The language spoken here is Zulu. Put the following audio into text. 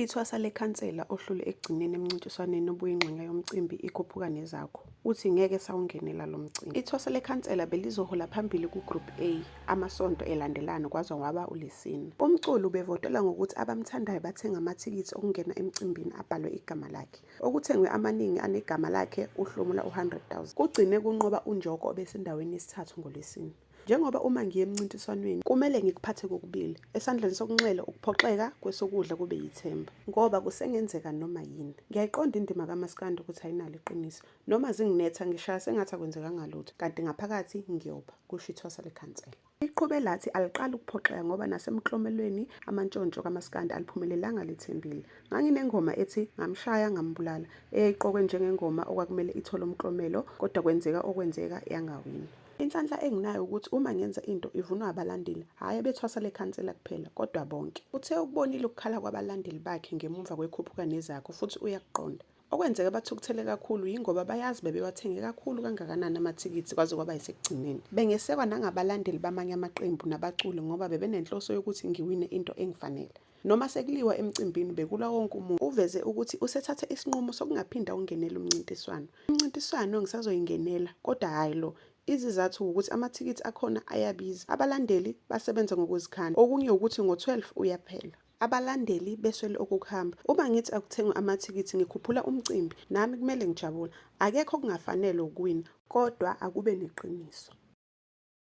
Ithwasa lekhansela ohlule ekugcineni emncintiswaneni obuyingxenye yomcimbi ikhuphuka nezakho uthi ngeke sawungenela lo mcimbi. Ithwasa lekhansela belizohola phambili ku-Group A amasonto elandelana kwaze waba uLesine. Umculi ubevotela ngokuthi abamthandayo bathenga amathikithi okungena emcimbini abhalwe igama lakhe. Okuthengwe amaningi anegama lakhe uhlomula u-100,000. Kugcine kunqoba uNjoko obesendaweni yesithathu ngoLwesine. Njengoba uma ngiye emncintiswanweni kumele ngikuphathe kokubili, esandleni sokunxele ukuphoxeka, kwesokudla kube yithemba ngoba kusengenzeka noma yini. Ngiyayiqonda indima kamaskandi ukuthi ayinalo iqiniso, noma zinginetha ngishaya sengathi akwenzekanga lutho kanti ngaphakathi ngiyoba, kusho ithwasa lekhansela. Iqhube lathi aliqali ukuphoxeka ngoba nasemklomelweni amantshontsho kamaskandi aliphumelelanga lithembile. Nganginengoma ethi ngamshaya ngambulala eyayiqokwe njengengoma okwakumele ithole umklomelo kodwa kwenzeka okwenzeka yangawini. Inhlanhla enginayo ukuthi uma ngenza into ivunwa abalandeli, hhayi abethwasa lekhansela kuphela, kodwa bonke. Uthe ukubonile ukukhala kwabalandeli bakhe ngemuva kwekhuphuka nezakho futhi uyakuqonda. Okwenzeka bathukuthele kakhulu yingoba bayazi bebewathenge kakhulu kangakanani amathikithi kwaze kwaba yisekugcineni. Bengesekwa nangabalandeli bamanye amaqembu nabaculi ngoba bebenenhloso yokuthi ngiwine into engifanele. Noma sekuliwa emcimbini bekulwa wonke umuntu. Uveze ukuthi usethathe isinqumo sokungaphinda ungenele umncintiswano. Umncintiswano ngisazoyingenela kodwa hhayi lo. Izizathu wukuthi amathikithi akhona ayabiza. Abalandeli basebenza ngokuzikhandla. Okunye wukuthi ngo-12 uyaphela. Abalandeli beswele okukuhamba. Uma ngithi akuthengwe amathikithi ngikhuphula umcimbi. Nami kumele ngijabule. Akekho okungafanele ukuwina kodwa akube neqiniso.